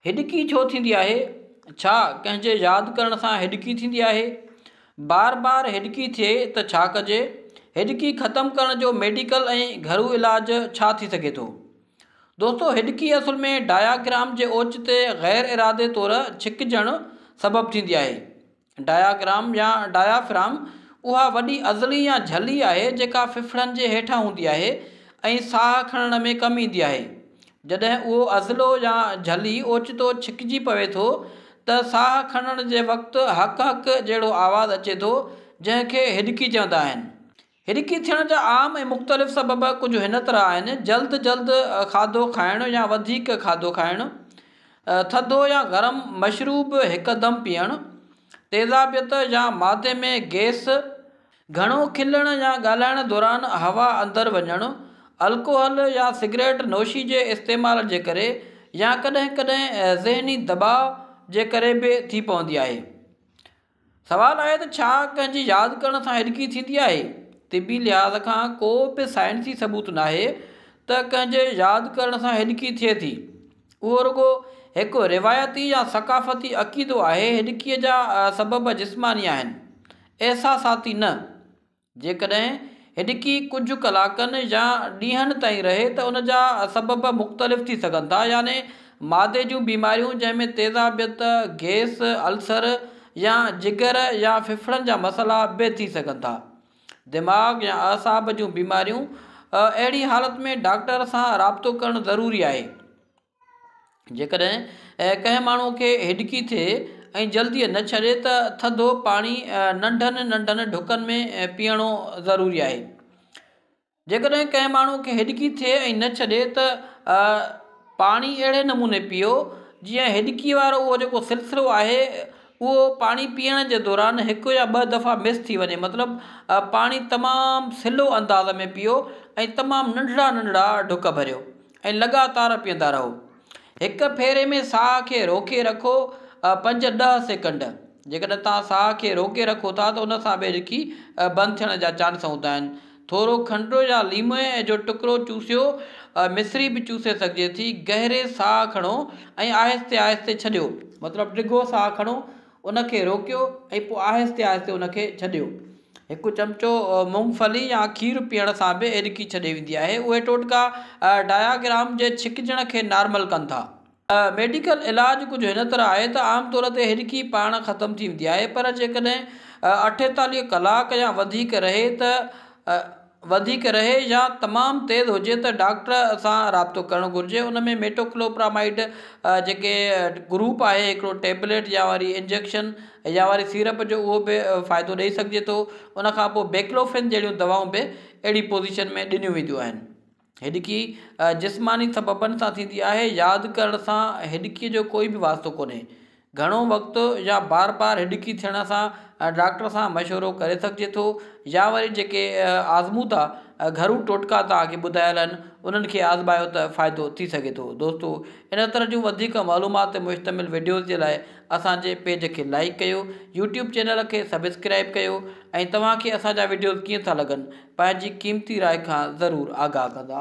هڏڪي ڇو ٿيندي آهي؟ ڇا ڪنهن جي ياد ڪرڻ سان هڏڪي ٿيندي آهي؟ بار بار هڏڪي ٿئي ته ڇا ڪجي؟ هڏڪي ختم ڪرڻ جو ميڊيڪل ۽ گهرو علاج ڇا ٿي سگهي ٿو؟ دوستو هڏڪي اصل ۾ ڊاياگرام جي اوچتي غير ارادي طور ڇڪجڻ سبب ٿيندي آهي. ڊاياگرام يا ڊايافرام اها وڏي ازڙي يا جھلي آهي جيڪا ڦڦڙن جي هيٺان هوندي آهي ۽ ساهه کڻڻ ۾ ڪم ايندي آهي. جڏهن اهو ازڙو يا جھلي اوچتو ڇڪجي پوي ٿو ته ساهه کڻڻ جي وقت هڪ هڪ جهڙو آواز اچي ٿو جنهن کي هڏڪي چوندا آهن. هرکي ٿيڻ جا عام ۽ مختلف سبب ڪجهه هن طرح آهن، جلد جلد کاڌو کائڻ يا وڌيڪ کاڌو کائڻ، ٿڌو يا گرم مشروب هڪدم پيئڻ، تيزابيت يا معدي ۾ گئس، گهڻو کلڻ يا ڳالهائڻ دوران هوا اندر وڃڻ، الڪوحل يا سگريٽ نوشي جي استعمال جي ڪري يا ڪڏهن ڪڏهن ذهني دٻاء جي ڪري به ٿي پوندي آهي. سوال آهي ته ڇا ڪنهن جي ياد ڪرڻ سان هڏڪي ٿيندي آهي؟ طبي لحاظ کان ڪو به سائنسي ثبوت ناهي ته ڪنهن جي ياد ڪرڻ سان هڏڪي ٿئي ٿي. اهو رڳو هڪ روايتي يا ثقافتي عقيدو آهي. هڏڪي جا سبب جسماني آهن، احساساتي نه. جيڪڏهن هڏڪي ڪجهه ڪلاڪن يا ڏينهن تائين رهي ته ان جا سبب مختلف ٿي سگهن ٿا يعني معدي جون بيماريون جنهن ۾ تيزابيت، گئس، السر يا جگر يا ڦڦڙن جا مسئلا به ٿي سگهن ٿا. دماغ يا اعصاب جون بيماريون، اهڙي حالت ۾ ڊاڪٽر سان رابطو ڪرڻ ضروري آهي. جيڪڏهن ڪنهن ماڻهوء کي هڏڪي ٿئي ۽ جلديء نه ڇڏي ته ٿڌو پاڻي ننڍن ننڍن ڍڪن ۾ پيئڻو ضروري آهي. جيڪڏهن ڪنهن ماڻهوء کي هڏڪي ٿئي ۽ نه ڇڏي ته پاڻي اهڙي نموني پيئو جيئن هڏڪي وارو اهو جيڪو سلسلو آهي اهو پاڻي پيئڻ جي دوران هڪ يا ٻه دفعا مس ٿي وڃي مطلب پاڻي تمام سلو انداز ۾ پيئو ۽ تمام ننڍڙا ننڍڙا ڍڪ ڀريو ۽ لڳاتار پيئندا رهو. هڪ ڦيري ۾ ساهه کي روڪي رکو پنج ڏهه سيڪنڊ. جيڪڏهن توهان ساهه کي روڪي رکو ٿا ته ان سان به رڪي بند ٿيڻ جا چانس هوندا آهن. ٿورو کنڊ يا ليمي جو ٽڪرو چوسيو، مصري به چوسي سگهجي ٿي. گهري ساهه کڻو ۽ آهستي آهستي ڇڏيو. مطلب ڊگهو ساهه کڻو ان کي روڪيو ۽ پوء آهستي آهستي ان کي ڇڏيو. هڪ چمچو مونگ ڦلي يا کير پيئڻ سان به ايڏڪي ڇڏي ويندي آهي. اهي ٽوٽڪا ڊائگرام جي ڇڪجڻ کي نارمل ڪن ٿا. ميڊيڪل علاج ڪجهه هن طرح آهي ته عام طور تي ايڏڪي پاڻ ختم ٿي ويندي آهي پر جيڪڏهن اٺيتاليهه ڪلاڪ يا وڌيڪ رهي ته وڌيڪ رهي يا تمام تيز هجي ته ڊاڪٽر سان رابطو ڪرڻ گهرجي ان ۾ ميٽوڪلوپرامائيڊ جيڪي گروپ آهي هڪڙو ٽيبليٽ يا وري انجيڪشن يا وري سيرپ جو اهو به فائدو ڏئي سگهجي ٿو ان کان پوء بيڪلوفين جهڙيون دواؤن به اهڙي پوزيشن ۾ ڏنيون وينديون آهن هڏڪي جسماني سببن سان ٿيندي آهي. ياد ڪرڻ سان هڏڪي جو ڪوئي به واسطو ڪونهي. گهڻو وقت يا بار بار هڏڪي ٿيڻ سان ڊاڪٽر سان مشورو ڪري سگهجي ٿو يا وري جيڪي آزمودا گهرو ٽوٽڪا توهان کي ٻڌايل آهن انهن کي آزمايو ته فائدو ٿي سگهي ٿو. دوستو ان طرح جون وڌيڪ معلومات تي مشتمل وڊيوز جي لاء اسان جي پيج کي لائيڪ ڪيو يوٽيوب چينل کي سبسڪرائيب ڪيو ۽ توهان کي اسان جا وڊيوز ڪيئن ٿا لڳن پنهنجي قيمتي راء کان ضرور آگاهه ڪندا.